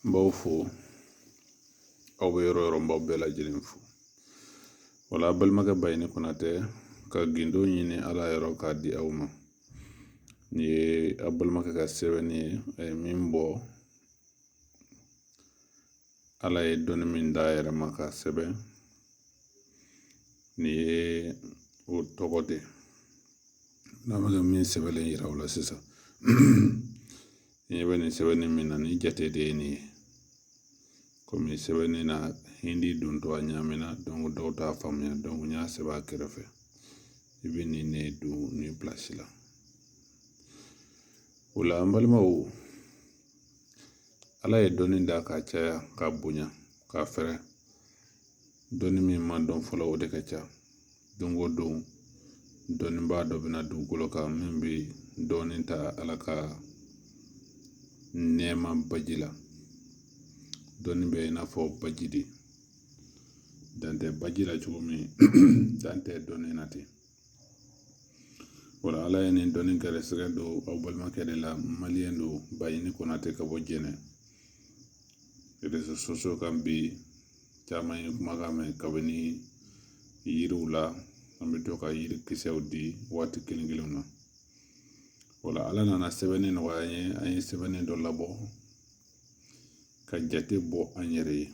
n b'aw fo aw bɛ yɔrɔ yɔrɔ n b'aw bɛɛ lajɛlen fo wala a balimakɛ bayini konatɛ ka gindo ɲini ala yɔrɔ k'a di aw ma nin ye a balimakɛ ka sɛbɛnni ye a ye min bɔ ala ye dɔnni min d'a yɛrɛ ma k'a sɛbɛn nin ye o tɔgɔ de ye n'a bɛ ka min sɛbɛnlen yira aw la sisan ɲɛ bɛ nin sɛbɛnni min na nin jate de ye nin ye komi sɛbɛnni na hindi don to a ɲaamina donki dɔw t'a faamuya donki n y'a sɛbɛn a kɛrɛfɛ i bɛ nin ne don nin pilasi la o la an balimaw ala ye dɔnni da k'a caya k'a bonya k'a fɛrɛ dɔnni min ma dɔn fɔlɔ o de ka ca don o don dɔnnibaa dɔ bɛ na dugukolo kan min bɛ dɔɔnin ta ala ka nɛɛma baji la dɔnni bɛ i n'a fɔ baji de dan tɛ baji la cogo min dan tɛ dɔnni na ten wala ala ye nin dɔnni gɛrɛsɛgɛ don aw balimakɛ de la maliyɛn don bayini konatɛ ka bɔ jɛnɛ réseaux sociaux kan bi caman ye kumakan mɛn kabini yiriw la an bɛ to ka yiri kisɛw di waati kelen kelenw na o la ala nana sɛbɛnni nɔgɔya an ye an ye sɛbɛnni dɔ labɔ ka jate bɔ an yɛrɛ ye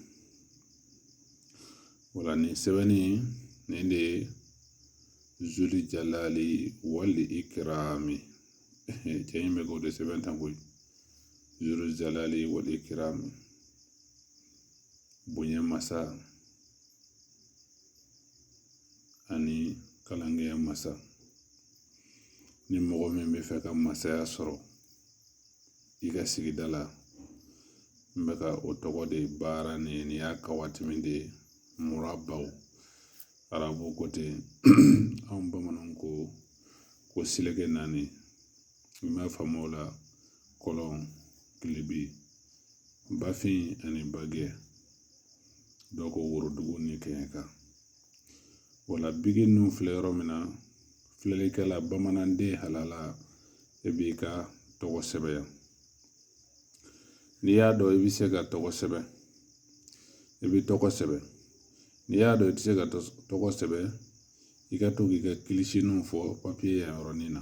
o la nin sɛbɛnni nin de ye zuli jalali wali ikirami cɛ in bɛ k'o de sɛbɛn tan koyi zuli jalali wali ikirami bonya masa ani kalankɛya masa ni mɔgɔ min bɛ fɛ ka masaya sɔrɔ i ka sigida la n bɛ ka o tɔgɔ de baara nin nin y'a kawatimi de ye murabaw arabu ko ten anw bamananw ko seleke naani i m'a faamu o la kɔlɔn kilebi bafin ani bagɛ dɔ ko worodugu ni kɛɲɛka wala bigi ninnu filɛ yɔrɔ min na filɛlikɛla bamananden halala e b'i ka tɔgɔ sɛbɛn n'i y'a dɔn i bɛ se ka tɔgɔ sɛbɛn i bɛ tɔgɔ sɛbɛn n'i y'a dɔn i tɛ se ka tɔgɔ sɛbɛn i ka to k'i ka kilisinin fɔ papiye yan yɔrɔ nin na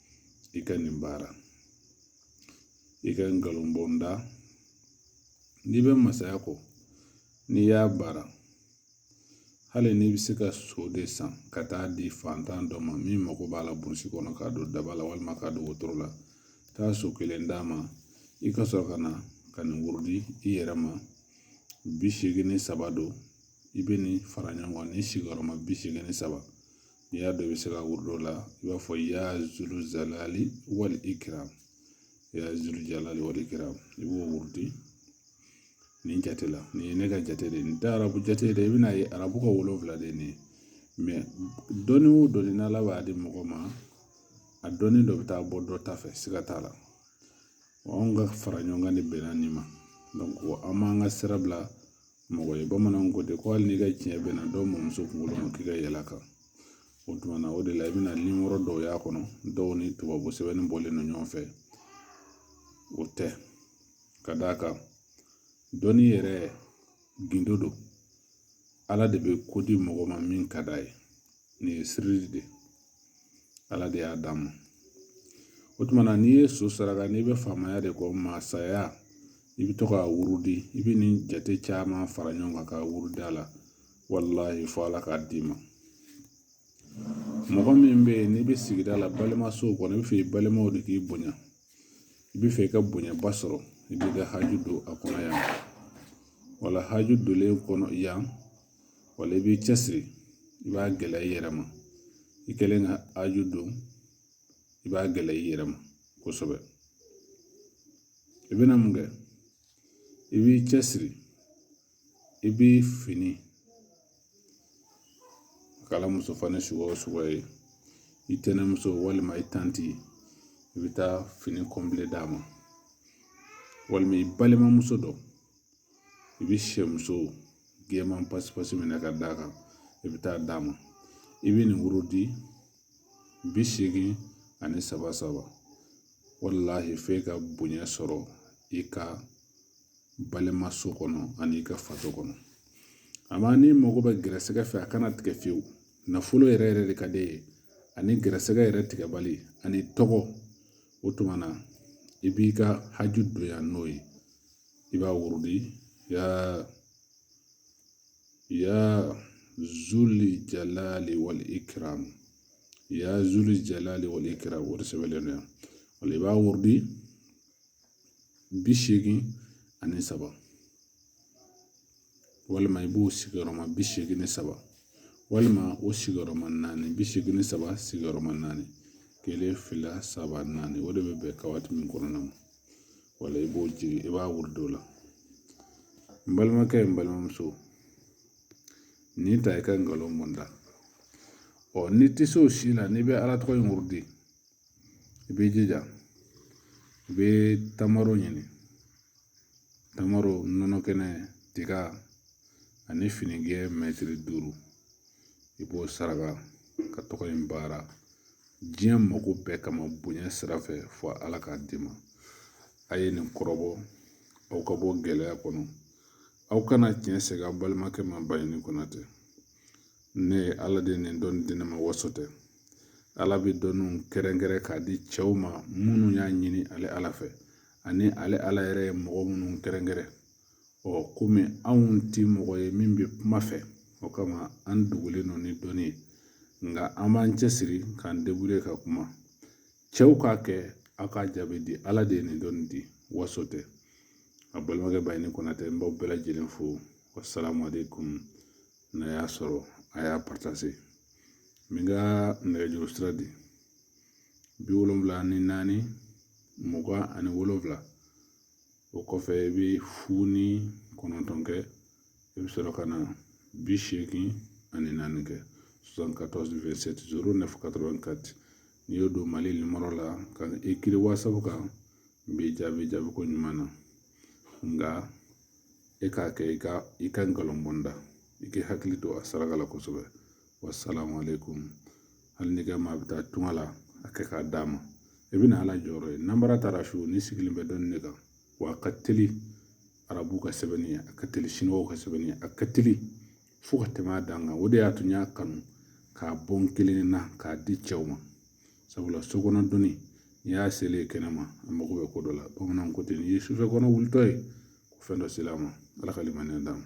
i ka nin baara i ka nkalon bɔ n da n'i bɛ masaya kɔ n'i y'a baara hali n'i bɛ se ka so de san ka taa di fantan dɔ ma min mago b'a la burusi kɔnɔ k'a don daba la walima k'a don wotoro la taa so kelen d'a ma i ka sɔrɔ ka na ka nin wurudi i yɛrɛ ma bi seegin ni saba don i bɛ nin fara ɲɔgɔn kan ni sigiyɔrɔma bi seegin ni saba n'i y'a dɔn i bɛ se k'a wurudi o la i b'a fɔ ya zul jalali wal ikram ya zul jalali wal ikram i b'o wurudi nin jate la nin ye ne ka jate de ye nin tɛ arabu jate dɛ i bɛna ye arabu ka wolonwula de ye nin ye dɔnni o dɔnni n'ala b'a di mɔgɔ ma a dɔnni dɔ bɛ taa bɔ dɔ ta fɛ siga t'a la anw ka fara ɲɔgɔn kan de bɛnna nin ma an m'an ka sira bila mɔgɔ ye bamananw ko ten ko hali n'i ka tiɲɛ bɛnna dɔ mɔmuso kunkolo ma k'i ka yɛlɛ a kan o tuma na o de la i bɛna nimɔrɔ dɔw y'a kɔnɔ dɔw ni tubabu sɛbɛnni bɔlen don ɲɔgɔn fɛ o tɛ ka d'a kan dɔnni yɛrɛ gindo don ala de bɛ ko di mɔgɔ ma min ka d'a ye nin ye sirili de ye ala de y'a d'a ma o tuma na n'i ye so saraka n'i bɛ faamaya de kɔ masaya i bɛ to k'a wurudi i bɛ nin jate caman fara ɲɔgɔn kan k'a wurudi a la walahi fo ala k'a d'i ma mɔgɔ min bɛ yen n'i bɛ sigida la balimasow kɔnɔ i bɛ fɛ i balimaw de k'i bonya i bɛ fɛ i ka bonyaba sɔrɔ i b'i ka haju don a kɔnɔ yan wala haju donlen kɔnɔ yan wala i b'i cɛsiri i b'a gɛlɛya i yɛrɛ ma i kɛlen ka haju don i b'a gɛlɛya i yɛrɛ ma kosɛbɛ i bɛna mun kɛ i b'i cɛsiri i bi fini kala muso fani suguya o suguya ye i tɛnɛmuso walima i tanti i bɛ taa fini kɔnpilɛ d'a ma walima i balimamuso dɔ i bi sɛmuso gɛnman pasi pasi minɛ ka d'a kan i bi taa d'a ma i bi nin wurudi bi seegin ani saba saba walahi f'e ka bonya sɔrɔ i ka balimaso kɔnɔ ani i ka faso kɔnɔ amma n'i mago bɛ gɛrɛsɛgɛ fɛ a kana tigɛ fiyewu nafolo yɛrɛ yɛrɛ de ka d'i ye ani gɛrɛsɛgɛ yɛrɛ tigɛbali ani tɔgɔ o tuma na i b'i ka haju don yan n'o ye i b'a wurudi ya ya zuli jalali wali ikram ya zuli jalali wali ikram o de sɛbɛnlen don yan o la i b'a wurudi bi seegin ani saba walima i b'o sigiyɔrɔma bi seegin ni saba walima o sigiyɔrɔma naani bi seegin ni saba sigiyɔrɔma naani kelen fila saba naani o de bɛ bɛn ka waati min kɔnɔna ma wala i b'o jigi i b'a wurudi o la n balimakɛ n balimamuso nin ta i ka nkalon bɔ n da ɔ n'i tɛ se o si la n'i bɛ ala tɔgɔ in wurudi i b'i jija i bɛ tamaro ɲini tamaro nɔnɔ kɛnɛ tiga ani finigɛ mɛtiri duuru i b'o saraka ka tɔgɔ in baara diɲɛ mako bɛɛ kama bonya sira fɛ fo ala k'a d'i ma a ye nin kɔrɔbɔ aw ka bɔ gɛlɛya kɔnɔ aw kana tiɲɛ sɛgɛn aw balimakɛ ma baɲini kɔnatɛ ne ye ala de nin dɔnni di ne ma waso tɛ ala bɛ dɔnniw kɛrɛnkɛrɛn k'a di cɛw ma minnu y'a ɲini ale ala fɛ ani ale ala yɛrɛ ye mɔgɔ minnu kɛrɛnkɛrɛn ɔ kɔmi anw tɛ mɔgɔ ye min bɛ kuma fɛ o kama an dogolen don ni dɔnni ye nka an b'an cɛsiri k'an débrouiller ka kuma cɛw k'a kɛ aw k'a jaabi di ala de ye nin dɔnni di waso tɛ a balimakɛ baɲini kɔnatɛ n b'aw bɛɛ lajɛlen fo wasalamu aleykum n'a y'a sɔrɔ a y'a partager n bɛ n ka nɛgɛjuru sira di bi wolonwula ni naani mugan ani wolonwula o kɔfɛ i bɛ fu ni kɔnɔntɔn kɛ i bɛ sɔrɔ ka na bi seegin ani naani kɛ n'i y'o don mali nimɔrɔ la ka écrire wasabu kan n b'i jaabi jaabi ko ɲuman na nka e k'a kɛ i ka i ka nkalon bɔ n da i k'i hakili to a saraka la kosɛbɛ wasalamu aleykum hali n'i ka maa bɛ taa tunga la a kɛ k'a d'a ma i bɛna ala jɔyɔrɔ ye nanbara t'a ra so nin sigilen bɛ dɔnni de kan wa a ka teli arabu ka sɛbɛnni ye a ka teli siniwaw ka sɛbɛnni ye a ka teli fo ka tɛmɛ a dan kan o de y'a to n y'a kanu k'a bɔ n kelen na k'a di cɛw ma sabula so kɔnɔ dɔnni n'i y'a selen kɛnɛma a mago bɛ ko dɔ la bamananw ko ten n'i ye sufɛ kɔnɔ wulitɔ ye ko fɛn dɔ sela a ma ala ka limaniya d'a ma